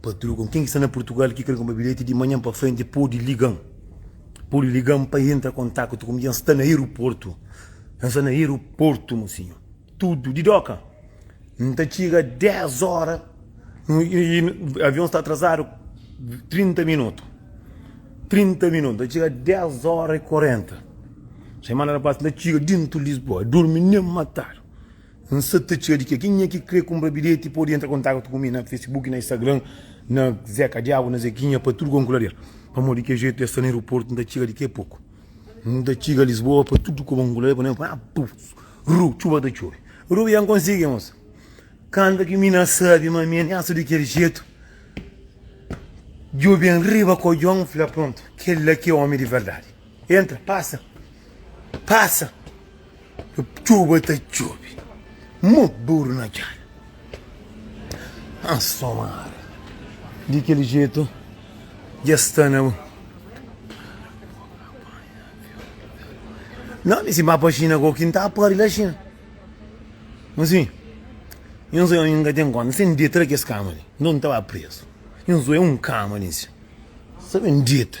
Patrogon, ken ki sta na Purtugal ki kre konpra bilheti di manhan pa frenti podi ligan, podi ligan pa entra kontaktu ku mi, dja N sta na aeroportu, dja N sta na aeroportu mo sinhor, tudu di doka, N ta txiga 10 ora y avion sta atrazadu 30 minutu, 30 minutu, N ta txiga 10 ora y 40, semana ta pasa N ta txiga dentu Lisboa, durmi nen matadu. N sa ta txia di ke. Kenha ki kre kunpra bilheti podi entra kontaktu ku mi na Facebook, na Instagram, na Zeca Diabo, na Zequinha pa tudu kon ku lader. Pamodi di ke jetu el sta na aeroportu N ta txiga di ke poku. N ta txiga Lisboa pa tudu ku kon ku lader pamodi el ta fla Ru, txuba ta txobi. Ru, ya N konsigi mosa. Kanta ki mi na sabi ma mi na sta di kel jetu, djobe N riba kodjon, N fla prontu, kel la ki é omi di verdadi. Entra, pasa, pasa Txuba ta txubi Mo buru na djada An so mara Di kel jetu Dja sta na bu Nau mi si ba pa xina Ko ki N ta pari la xina N si N so N ka ten konta Sen deta la kes kama li Nton N ta ba prezu N so e un kama li N si Sabe N deta.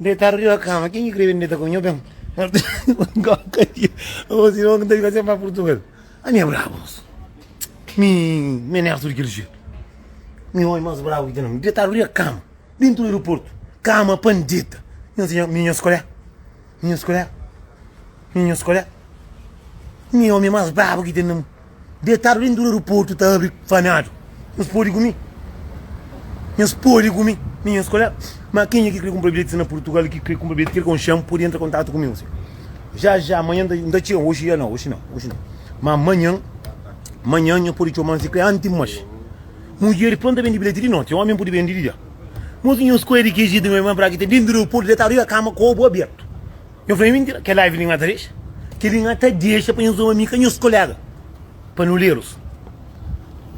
Detadu riba kama, ken ki kre ben deta ku nho ben goka di o si no nta fika sen pa purtugal ami é brabu moço mi me nersu di kel jetu mi oi mas brabu ki ten na mi detadu riba kama dentu aeroportu kama pan deta nho si mi nho skolha mi nho skolha Na nhos kolé, mi omi más brabu ki ten na mundu. Detadu dentu di aeroportu ta abri fanadu. Nhos podi ku mi. Nhos podi ku mi. Na nhos kolé, ma kenha ki krê kunpra bilheti na Purtugal i ki krê kunpra bilheti Kerkon Xan podi entra kontatu ku mi osi. Já, já, manhan N ta txeu. Oxi, nau, oxi nau, oxi nau. Má manhan, manhan nhos podi txeu. Má si krê anti muxi. Mudjeris prontu ta bendi bilheti di noti. Omi N podi bendi di dia. Mos nhos kolé di ki jetu ma é más brabu ki ten dentu di aeroportu detadu riba kama ku obu abertu. Nhos fla é mintira, kel live li nhá ta dexa, kel li nhá ta dexa pa nhos ama mi ka nhos koléga pa nu lê-los.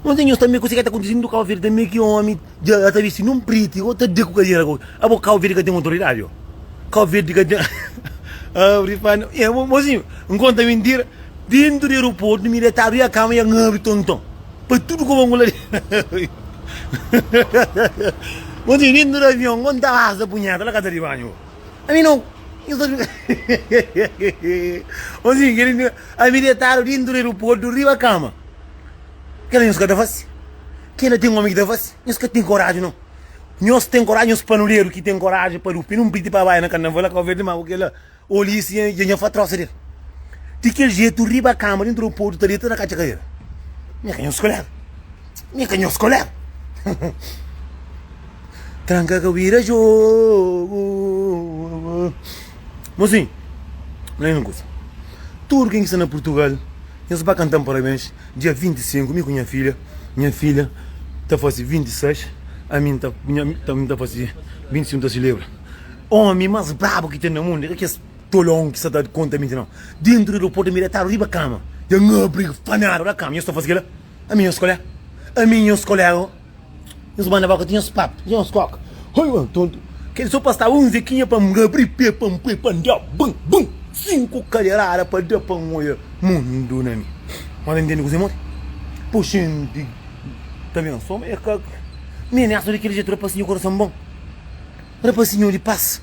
Nhos di nhos tanbe kuzê ke ta kontise ndu Kau Verde tanbe ki omi dja ta vesti non priti o ta da ku kadera ku abo Kau Verde ka ten otoridadi o Kau Verde ka ten abri pa nu nha mozinhu n konta mintira dentu di aeroportu mi dja ta abri a kama ya n abri tonton pa tudu ku bangula di mozinhu dentu di avion n konta asa punheta la ka ta di banhu. A mi no Nhos ta djuda Ô zinhu kel dia a mi detadu dentu di aeroportu riba kama Kel la nhos ka ta fase Kel la ten omi ki ta fase Nhos ka ten koraji no Nhos ten koraji nhos panuderu ki ten koraji pa dupi nun piti pa bai na karnaval la Kau Verdi ma ku kel la Oli si nha nha fa trosa del Di kel jetu riba kama dentu di aeroportu ta deta ta katxa kadera Nha ka nhos kolega. Mi ka nhos koléga. Tranka ka bira jogo. Mozinho, na un kusa. Tudo ken ki sta na Portugal, nhos ba kanta-m parabéns dia 25, mi ku nha filha. Nha filha ta fase 26, ami n ta, ami n ta fase 25, n ta selebra. Omi más brabu ki ten na mundu é ka kes tolon ki sta ta konta minti, nau. Dentro di aeroportu, mi djetadu riba kama, dja n abri, fanadu la kama, nhos ta fase kila? Ami nhos kolé Ami nhos kolé oh Nhos banda boka ti nhos pâpia ti nhos kóka Oi uan tontu Kel so pa staba un zekinha pa N abri pé pa N poi pa N da bum bum Sinku kaderada pa da pa N oia mundu na mi Má ta ntende kuzê modi p'u xinti Ta ben so ma é ka Nene aso di kel jetu Rapasinhu di korason bon Rapasinhu di pas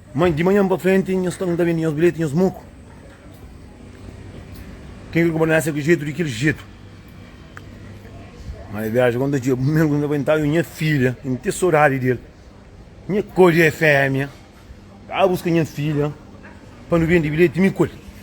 Mas di manhan pa frenti nhos ta nta bendi nhos bilheti nhos muku ken kre konpra nessa ku jetu di kel jetu mas viaja kon ta txiga primeru kuz nta ntau nha filha kin ten sodadi del nha kodi é femia ba buska nha filha pa nu bendi bilheti mi kol.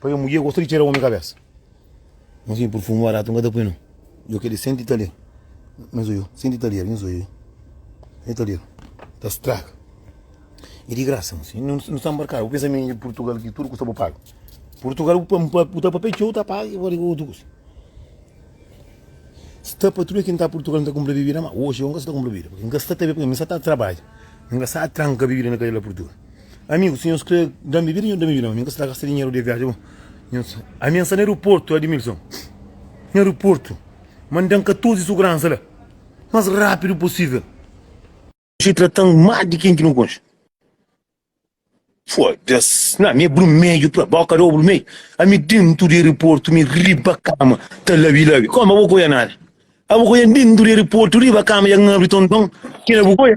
Pabia mulher gosta di txera omi kabesa N si purfumu baratu N ka ta pui no Yo kel di senti ta lel N so yo senti ta lel N so yo senti ta lel N ta straga E di grasa N si nu sta nbarkadu Bu pensa ma inda purtugal ki tudu kusa bu paga Purtugal bu ta papia txeu ta paga e otu kusa Sta pa tudu kel ki N ta purtugal N ta kunpra bibida ma oxi yo N ka sta ta kunpra bibida N ka sta ta bebe N sta ta trabadja N ka sta ta tranka bibida na kadela purtugal. Amigu, si nhos krê da-m bebida, nhos da-m bebida, ma mi N ka sta gasta dinheru de viaji bo. Nhos, ami N sta na aeroportu, Admilson, na aeroportu, ma N da-m 14 suguransa la, más rápidu posível. Dja trata-m má di ken ki nu konxe. Foda-s, na mi é brumeju pra ba, ka da bo brumeju? Ami dentu di aeroportu, mi riba kama, ta labi-labi, kóma bo ka oja nada? Abo ka oja-m dentu di aeroportu, riba kama, ja N abri tonton, ki na bu ka oja?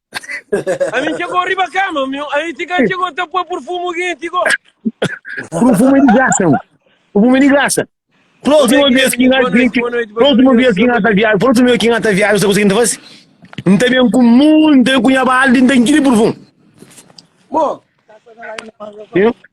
Ami txegó riba kama, mi ami ti ka txegó ta poi purfumu gen ti go. Purfumu é di grasa, mi. Purfumu é di grasa. Próxima vez ki nga ki próxima vez ki nga ta viaja, próxima vez ki nga ta viaja, sa kusa ki nta fasi? Nta ben ku mun, nta ben ku nha balde, nta nkiri purfumu. Bom. Viu?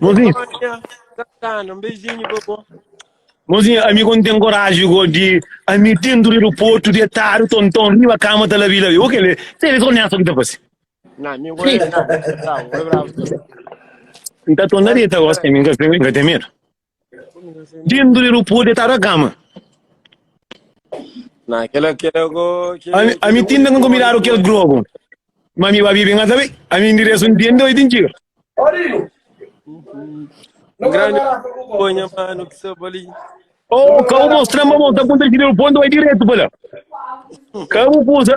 Mozinho. Santana, um beijinho, bobo. Mozinho, amigo, não tem coragem de amigo dentro do aeroporto, de tarde, tontão, riba, cama, tá lá, vila, o que ele, se ele sonha, só que tá fazendo. Não, meu gol é bravo, é bravo. Então, tô na dieta, gosto, tem medo. Dindu di rupu detadu a kama. Na kela kela go ke Ami, ami tinda nunka miradu kel globo. Ma mi ba bibi nga sabe. Ami ndiresu ntende oi tin txiga. Grande ponha mano que se boli. Oh, ka bu mostra-m, ba mostra punta di rupu, nta bai diretu pa la. Ka bu kusa,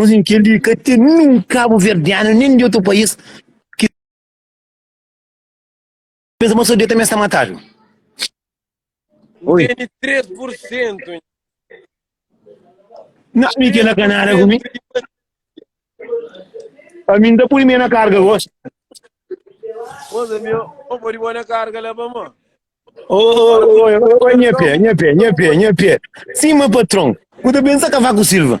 Nos entende di ka ten nin kabuverdianu nin di otu pais ki pensa ma so dia tambi es ta matadu. Oi. Tene 3%. Não, mi que na canara comi. Pra mim tá por mim na carga hoje. Moza meu, ô pode pôr na carga lá, vamos. Ô, ô, ô, ô, ô, nha pé, nha pé, nha pé, nha pé. Sim, meu patrão. Puta pensa cavaco Silva.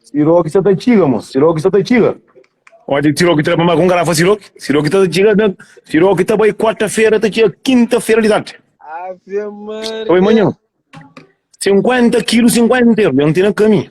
Siroki sa ta txiga, mos. Siroki sa ta txiga. Onde Siroki tra mamá com garrafa Siroki? Siroki tá chegando. Siroki tá bem quarta-feira, tá chegando quinta-feira de tarde. Ave Maria. Oi, manhã. 50 quilos, 50 euros. Eu não tenho caminho.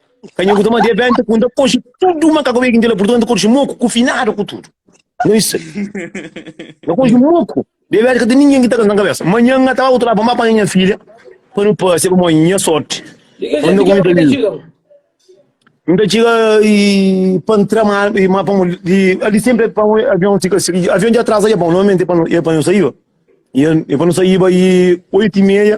Ka nhu kuta ma dia benta ku nda koxe tudu ma ka kobe ki nda la purtu nda koxe moku ku finadu ku tudu. Nhu isa. Nda koxe moku. Dia benta ka ta ninguém ki ta kanta na kabesa. Manhã nha ta ba utra pa ma panha nha filha pa nu pase pa mo nha sorti. Di ki Onde jenti ku ki bu ta txiga? N ta txiga i pa N tra ma i ma pa mo i ali sempri pa mo avion fika si avion dja atrasa dja bon normalmenti e pa no e pa no saiba i pa no saiba i oitu i meia.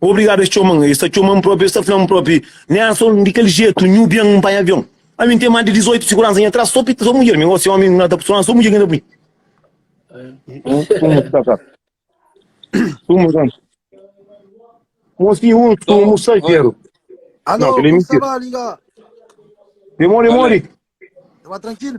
Obrigado es txoman, es ta txoman propi, es ta flan propi, né anson di kel jetu nhu bian npanha avion. Ami nten más di 18 siguransa nha tras so pita so mudjer mi, gosi omi na ta pus lan so mudjer ki na ta pui. Suma sa sa. Suma sa. Mosi un sumu salteru. Alô, Não, que ele é como está mentira. lá, liga? Demori, demori. Tá tranquilo?